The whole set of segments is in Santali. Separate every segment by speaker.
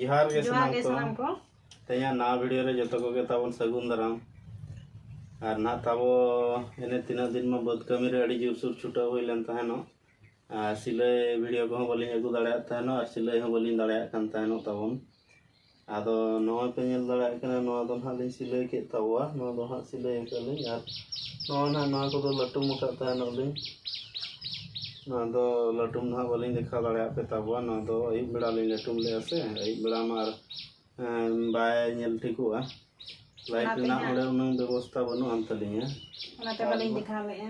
Speaker 1: ᱡᱚᱦᱟᱨ ᱜᱮ ᱡᱚᱦᱟᱨ ᱜᱮ ᱥᱟᱱᱟᱢ ᱠᱚ ᱛᱮᱦᱮᱧᱟᱜ ᱱᱟᱣᱟ ᱵᱷᱤᱰᱤᱭᱳ ᱨᱮ ᱡᱚᱛᱚ ᱠᱚᱜᱮ ᱛᱟᱵᱚᱱ ᱥᱟᱹᱜᱩᱱ ᱫᱟᱨᱟᱢ ᱟᱨ ᱱᱟᱦᱟᱜ ᱛᱟᱵᱚ ᱮᱱᱮ ᱛᱤᱱᱟᱹᱜ ᱫᱤᱱ ᱢᱟ ᱵᱟᱹᱫᱽ ᱠᱟᱹᱢᱤ ᱨᱮ ᱟᱹᱰᱤ ᱡᱳᱨᱥᱳᱨ ᱪᱷᱩᱴᱟᱹᱣ ᱦᱩᱭ ᱞᱮᱱ ᱛᱟᱦᱮᱱᱚᱜ ᱟᱨ ᱥᱤᱞᱟᱹᱭ ᱵᱷᱤᱰᱤᱭᱳ ᱠᱚᱦᱚᱸ ᱵᱟᱹᱞᱤᱧ ᱟᱹᱜᱩ ᱫᱟᱲᱮᱭᱟᱜ ᱛᱟᱦᱮᱱᱚᱜ ᱟᱨ ᱥᱤᱞᱟᱹᱭ ᱦᱚᱸ ᱵᱟᱹᱞᱤᱧ ᱫᱟᱲᱮᱭᱟᱜ ᱠᱟᱱ ᱛᱟᱦᱮᱱᱚᱜ ᱛᱟᱵᱚᱱ ᱟᱫᱚ ᱱᱚᱣᱟ ᱯᱮ ᱧᱮᱞ ᱫᱟᱲᱮᱭᱟᱜ ᱠᱟᱱᱟ ᱱᱚᱣᱟ ᱫᱚ ᱱᱟᱦᱟᱜ ᱞᱤᱧ ᱥᱤᱞᱟᱹᱭ ᱠᱮᱫ ᱛᱟᱵᱚᱣᱟ ᱱᱚᱣᱟ ᱫᱚ ᱱᱟᱦᱟᱜ ᱥᱤᱞᱟᱹᱭ ᱟᱠᱟᱫᱟᱞᱤᱧ ᱟᱨ ᱱᱚᱣᱟ ᱱᱟᱦᱟᱜ ᱱᱚᱣᱟ ᱠᱚᱫᱚ ᱞᱟᱹᱴᱩᱢ ᱟᱠᱟᱫ ᱛᱟᱦᱮᱱᱚᱜ ᱞᱤᱧ ᱱᱚᱣᱟ ᱫᱚ ᱞᱟᱹᱴᱩᱢ ᱱᱟᱦᱟᱜ ᱵᱟᱹᱞᱤᱧ ᱫᱮᱠᱷᱟᱣ ᱫᱟᱲᱮᱭᱟᱜ ᱯᱮ ᱛᱟᱵᱚᱣᱟ ᱱᱚᱣᱟ ᱫᱚ ᱟᱹᱭᱩᱵ ᱵᱮᱲᱟ ᱞᱤᱧ ᱞᱟᱹᱴᱩᱢ ᱞᱮᱫᱼᱟ ᱥᱮ ᱟᱹᱭᱩᱵ ᱵᱮᱲᱟ ᱢᱟ ᱟᱨ ᱵᱟᱭ ᱧᱮᱞ ᱴᱷᱤᱠᱚᱜᱼᱟ ᱞᱟᱭᱤᱴ ᱨᱮᱱᱟᱜ ᱚᱸᱰᱮ ᱩᱱᱟᱹᱝ ᱵᱮᱵᱚᱥᱛᱷᱟ ᱵᱟᱹᱱᱩᱜ ᱟᱱ ᱛᱟᱹᱞᱤᱧᱟ ᱚᱱᱟᱛᱮ ᱵᱟᱹᱞᱤᱧ ᱫᱮᱠᱷᱟᱣ ᱞᱮᱫᱼᱟ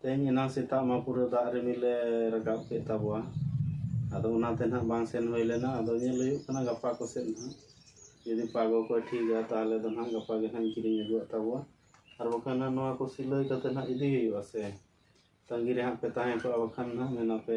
Speaker 1: ᱛᱮᱦᱮᱧ ᱮᱱᱟᱝ ᱥᱮᱛᱟᱜ ᱢᱟ ᱯᱩᱨᱟᱹ ᱫᱟᱜ ᱨᱤᱢᱤᱞᱮ ᱨᱟᱠᱟᱵ ᱠᱮᱫ ᱛᱟᱵᱚᱣᱟ ᱟᱫᱚ ᱚᱱᱟᱛᱮ ᱱᱟᱦᱟᱜ ᱵᱟᱝ ᱥᱮᱱ ᱦᱩᱭ ᱞᱮᱱᱟ ᱟᱫᱚ ᱧᱮᱞ ᱦᱩᱭᱩᱜ ᱠᱟᱱᱟ ᱜᱟᱯᱟ ᱠᱚᱥᱮᱫ ᱱᱟᱦᱟᱜ ᱡᱩᱫᱤ ᱯᱟᱜᱚ ᱠᱚᱭ ᱴᱷᱤᱠᱟ ᱛᱟᱦᱚᱞᱮ ᱫᱚ ᱱᱟᱦᱟᱜ ᱜᱟᱯᱟ ᱜᱮ ᱱᱟᱦᱟᱜ ᱤᱧ ᱠᱤᱨᱤᱧ ᱟᱹᱜᱩᱣᱟᱜ ᱛᱟᱵᱚᱣᱟ ᱟᱨ ᱵᱟᱠᱷᱟᱱ ᱱᱟᱦᱟᱜ ᱱᱚᱣᱟ ᱠᱚ ᱥᱤᱞᱟᱹᱭ ᱠᱟᱛᱮ ᱱᱟᱦᱟᱜ ᱤᱫᱤ ᱦᱩᱭᱩᱜᱼᱟ ᱥᱮ ᱛᱟᱺᱜᱤ ᱨᱮ ᱦᱟᱸᱜ ᱯᱮ ᱛᱟᱦᱮᱸ ᱠᱚᱜᱼᱟ ᱵᱟᱠᱷᱟᱱ ᱱᱟᱦᱟᱜ ᱢᱮᱱᱟᱯᱮ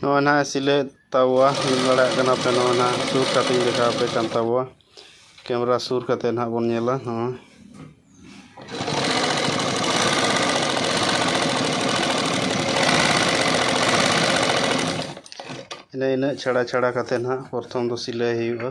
Speaker 1: ᱱᱚᱜᱼᱚᱭ ᱱᱟᱦᱟᱜ ᱮ ᱥᱤᱞᱟᱹᱭᱮᱫ ᱛᱟᱵᱚᱣᱟ ᱧᱮᱞ ᱫᱟᱲᱮᱭᱟᱜ ᱠᱟᱱᱟ ᱯᱮ ᱱᱚᱜᱼᱚᱭ ᱱᱟᱦᱟᱜ ᱥᱩᱨ ᱠᱟᱛᱮᱫ ᱤᱧ ᱫᱮᱠᱷᱟᱣ ᱟᱯᱮ ᱠᱟᱱ ᱛᱟᱵᱚᱣᱟ ᱠᱮᱢᱮᱨᱟ ᱥᱩᱨ ᱠᱟᱛᱮᱫ ᱱᱟᱦᱟᱜ ᱵᱚᱱ ᱧᱮᱞᱟ ᱱᱚᱜᱼᱚᱭ ᱤᱱᱟᱹ ᱤᱱᱟᱹᱜ ᱪᱷᱟᱲᱟ ᱪᱷᱟᱲᱟ ᱠᱟᱛᱮᱫ ᱱᱟᱦᱟᱜ ᱯᱨᱚᱛᱷᱚᱢ ᱫᱚ ᱥᱤᱞᱟᱹᱭ ᱦᱩᱭᱩᱜᱼᱟ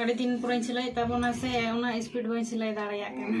Speaker 1: ᱟᱹᱰᱤ ᱫᱤᱱ ᱯᱚᱨᱮᱧ ᱥᱤᱞᱟᱹᱭᱮᱫ ᱛᱟᱵᱚᱱᱟ ᱥᱮ ᱚᱱᱟ ᱥᱯᱤᱰ ᱵᱟᱹᱧ ᱥᱤᱞᱟᱹᱭ ᱫᱟᱲᱮᱭᱟᱜ ᱠᱟᱱᱟ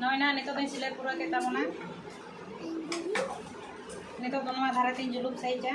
Speaker 1: ᱱᱚᱜᱼᱚᱭ ᱱᱟ ᱱᱤᱛᱚᱜ ᱫᱚᱧ ᱥᱤᱞᱟᱹᱭ ᱯᱩᱨᱟᱹ ᱠᱮᱫ ᱛᱟᱵᱚᱱᱟ ᱱᱤᱛᱚᱜ ᱫᱚ ᱱᱚᱣᱟ ᱫᱷᱟᱨᱮ ᱛᱤᱧ ᱡᱩᱞᱩᱯ ᱥᱟᱹᱦᱤᱡᱟ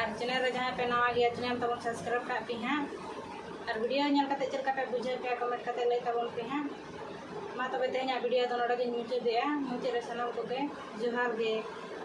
Speaker 1: ᱟᱨ ᱪᱮᱱᱮᱞ ᱨᱮ ᱡᱟᱦᱟᱸᱭ ᱯᱮ ᱱᱟᱣᱟ ᱜᱮᱭᱟ ᱪᱮᱱᱮᱞ ᱛᱟᱵᱚᱱ ᱥᱟᱵᱥᱠᱨᱟᱭᱤᱵᱽ ᱠᱟᱜ ᱯᱮ ᱦᱟᱸᱜ ᱟᱨ ᱵᱷᱤᱰᱤᱭᱳ ᱧᱮᱞ ᱠᱟᱛᱮ ᱪᱮᱫ ᱞᱮᱠᱟ ᱯᱮ ᱵᱩᱡᱷᱟᱹᱣ ᱠᱮᱜᱼᱟ ᱠᱚᱢᱮᱱᱴ ᱠᱟᱛᱮ ᱞᱟᱹᱭ ᱛᱟᱵᱚᱱ ᱯᱮ ᱦᱟᱸᱜ ᱢᱟ ᱛᱚᱵᱮ ᱛᱮᱦᱮᱧᱟᱜ ᱵᱷᱤᱰᱤᱭᱳ ᱫᱚ ᱱᱚᱰᱮ ᱜᱤᱧ ᱢᱩᱪᱟᱹᱫᱮᱜᱼᱟ ᱢᱩᱪᱟᱹᱫ ᱨᱮ ᱥᱟᱱᱟᱢ ᱠᱚᱜᱮ ᱡᱚᱦᱟᱨ ᱜᱮ